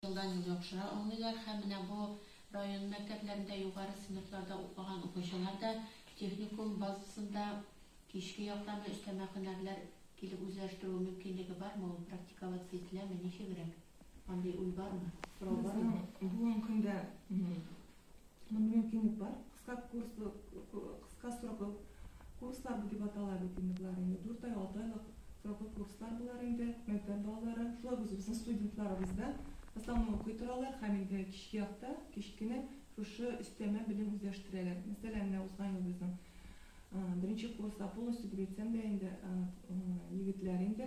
Елдан-ел яхшыра алмыйлар һәм менә бу район мәктәпләрендә югары сыйныфларда укыган укучылар да техникум базасында кичке яктамы өстәмә һөнәрләр килеп үзләштерү мөмкинлеге бармы ул, практиковаться ителәме, ничегрәк? Андый уй бармы? Сорау бармы? Безнең бүгенге көндә Мондый мөмкинлек бар. Кыска курслы, кыска сроклы курслар бу дип атала бит инде болар инде. Дүрт ай, алты айлык сроклы курслар болар инде. Мәктәп балалары, шулай ук үзебезнең студентларыбыз да в основном укый торалар һәм инде кичке якта, кич кенә шушы өстәмә белем үзләштерәләр. Мәсәлән, менә узган ел безнең беренче курста полностью дип әйтсәм дә инде, егетләр инде,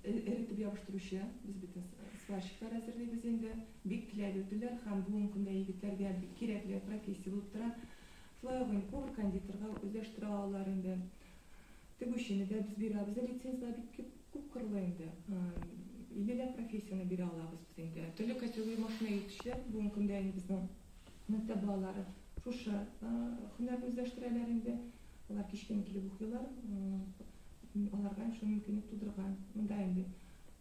эретеп ябыштыручы, без бит сварщиклар әзерлибез инде, бик теләп йөрделәр һәм бүгенге көндә егетләргә бик кирәкле профессия булып тора. Шулай ук инде повар-кондитерга үзләштерә алалар инде. Тегүчене дә без бирәбез, лицензияләр бик күп, күп кырлы инде. Иллеләп профессияне бирә алабыз без инде. Төрле категория машина йөртүчеләр, бүгенге көндә инде безнең мәктәп балалары шушы һөнәрне үзләштерәләр инде. Алар кичкә килеп укыйлар. Аларга шул мөмкинлек тудырган. Монда инде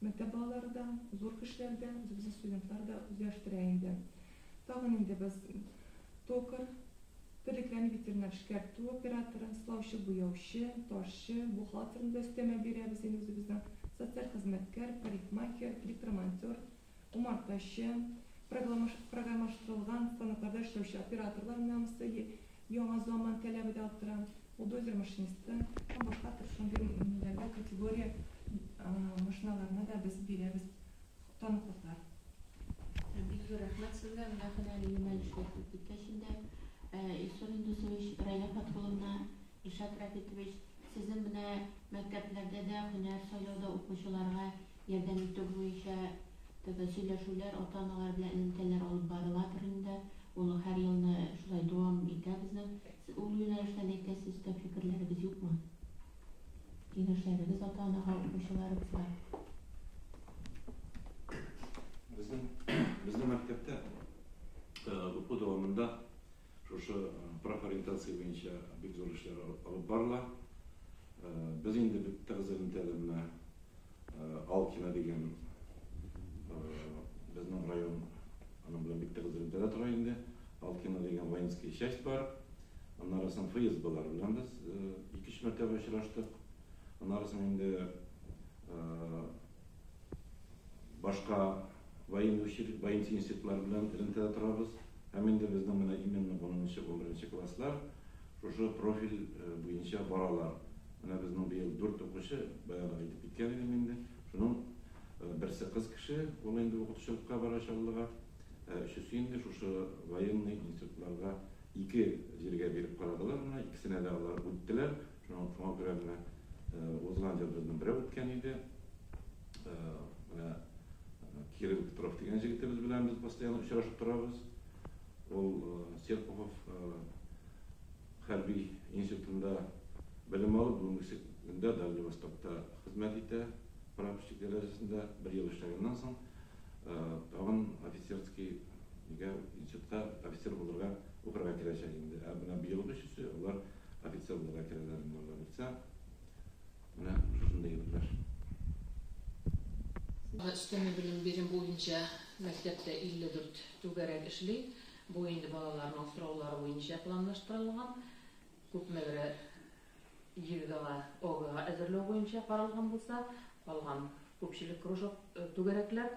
мәктәп балалары да, зур кешеләр дә, үзебезнең студентлар да үзләштерә инде. Тагын инде без токарь, терлекләрне ветеринар эшкәртү операторы, сылаучы, буяучы, ташчы, бухгалтерны да өстәмә бирәбез инде үзебезнең, социаль хезмәткәр, парикмахер, электромонтер, Умартачы, программаштырылган станокларда эшләүче операторлар намусы, яңа заман таләбе дә арттыра. Бульдозер машинисты һәм башка төр шундый ниләргә категория машиналарына да без бирәбез таныклыклар. Бик зур рәхмәт сезгә, менә һөнәри юнәлешләр күп киткәч инде, Илсур Индусович, Рәйлә Фатхулловна, Илшат Рәфитович, сезнең менә мәктәпләрдә дә һөнәр сайлауда укучыларга Ярдәм итү буенча теге сөйләшүләр ата-аналар белән элемтәләр алып барыладыр инде. Ул һәр елны шулай дәвам итә безнең. Ул юнәлештә ни әйтә сездә фикерләрегез юкмы? Киңәшләрегез ата-анага, укучыларыбызга? Безнең безнең мәктәптә уку дәвамында Шушы профориентация буенча бик зур эшләр алып барыла. Без инде бик тыгыз элемтәдә менә Алкино дигән безнең район аның белән бик тыгыз элемтәдә тора инде. Алкино дигән воинская часть бар. Аннары соң ФСБлар белән без ике-өч мәртәбә очраштык. Аннары соң инде Башка военный училище, воинский институтлар белән элемтәдә торабыз. Һәм инде безнең менә именно унынчы, унберенче класслар шушы профиль буенча баралар. Менә безнең быел дүрт укучы, баягы да әйтеп киткән идем инде, шуның берсе кыз кеше, ул инде укытучылыкка бара Чаллыга, ә өчесе инде шушы военный институтларга ике җиргә биреп карадылар, менә икесенә дә алар үттеләр. Шуңа шуңа күрә менә узган ел безнең берәү үткән иде. Менә Кирилл Петров дигән җегетебез белән без постоянно очрашып торабыз. Ул Серпухов хәрби институтында белем алып, бүгенге көндә Дальний Востокта хезмәт итә. Прапорщик дәрәҗәсендә бер ел эшләгәннән соң, тагын офицерский институтка офицер булырга укырга керәчәк инде. Ә менә быелгы өчесе алар Офицер булып әйтергә монда бирсә, менә шушындый иптәш. Өстәмә белем бирем буенча мәктәптә 54 түгәрәк эшли. Бу инде балаларның сораулары буенча планлаштырылган. Күпмегрәк ЕГЭга, ОГЭга әзерләү буенча каралган булса, калган күпчелек кружок түгәрәкләр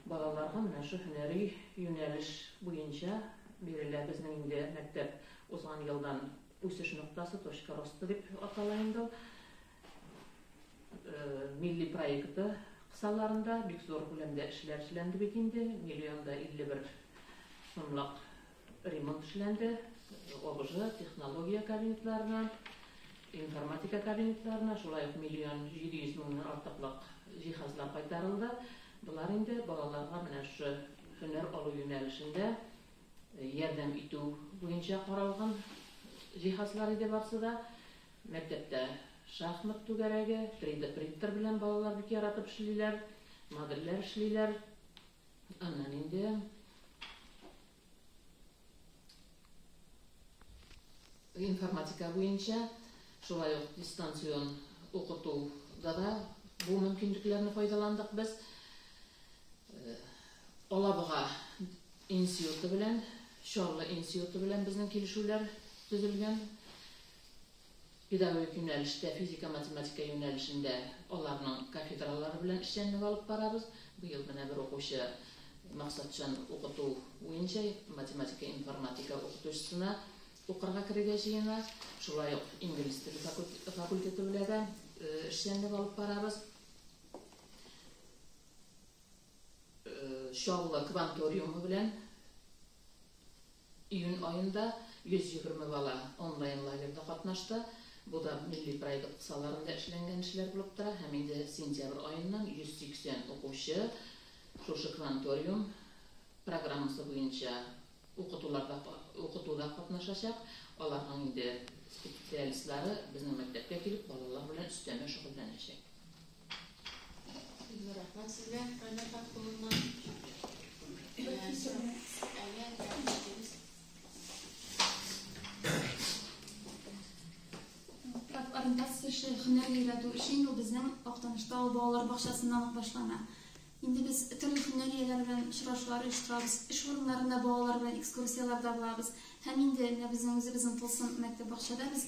Балаларга менә шу һөнәри юнәлеш буенча бирелә. Безнең инде мәктәп узган елдан үсеш ноктасы, точка роста дип атала инде ул. Милли проекты кысаларында бик зур күләмдә эшләр эшләнде бит инде, миллион да 51 сумлык Ремонт эшләнде, ОБЖ, технология кабинетларына, информатика кабинетларына, шулай ук миллион 700 меңнән артыклык җиһазлар кайтарылды. Болар инде балаларга менә шушы һөнәр алу юнәлешендә ярдәм итү буенча каралган җиһазлар иде барсы да. Мәктәптә шахмат түгәрәге, 3D принтер белән балалар бик яратып эшлиләр, модельләр эшлиләр. Аннан инде информатика буенча шулай ук дистанцион укытуда да бу мөмкинлекләрне файдаландык без. Э, Алабуга институты белән, Чаллы институты белән безнең килешүләр төзелгән. Педагогик юнәлештә, физика-математика юнәлешендә аларның кафедралары белән эшчәнлек алып барабыз. Быел менә бер укучы максатчан укыту буенча математика-информатика укытучысына укырга керергә җыена. Шулай ук инглиз теле факультеты белә дә эшчәнлек алып барабыз. Чаллы кванториумы белән. Июнь аенда 120 бала онлайн лагерьда катнашты. Бу да милли проект кысаларында эшләнгән эшләр булып тора һәм инде сентябрь аеннан 180 укучы шушы Кванториум программасы буенча укытуларда укытуда катнашачак. Аларның инде специалистлары безнең мәктәпкә килеп балалар белән өстәмә шөгыльләнәчәк. Рәхмәт сезгә, Райнар хат кулыннан. Кеше хөнәр өйрәтү эше инде безнең Актанышта ул балалар бакчасыннан ук башлана. Инде без төрле хөнәр ияләре белән очрашулар оештырабыз, эш урыннарында балалар белән экскурсияләрдә булабыз. Һәм инде менә безнең үзебезнең тылсым мәктәп бакчада без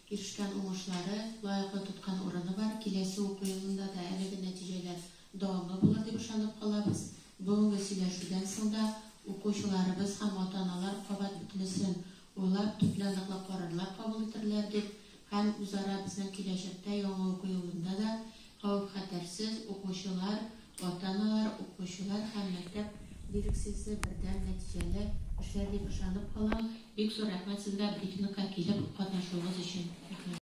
ирешкән уңышлары, лаеклы тоткан урыны бар, киләсе уку елында да әлеге нәтиҗәләр дәвамлы булыр дип ышанып калабыз. Бүгенге сөйләшүдән соң да укучыларыбыз һәм ата-аналар кабат бөтенесен уйлап, төпле ныклы карарлар кабул итерләр дип һәм үзара безнең киләчәктә яңа уку елында да Кавем-хәтәрсез укучылар, ата-аналар, укучылар һәм мәктәп дирекциясе бердәм нәтиҗәле эшләр дип ышанып калам. Бик зур рәхмәт сезгә брифингка килеп катнашуыгыз өчен. Рәхмәт.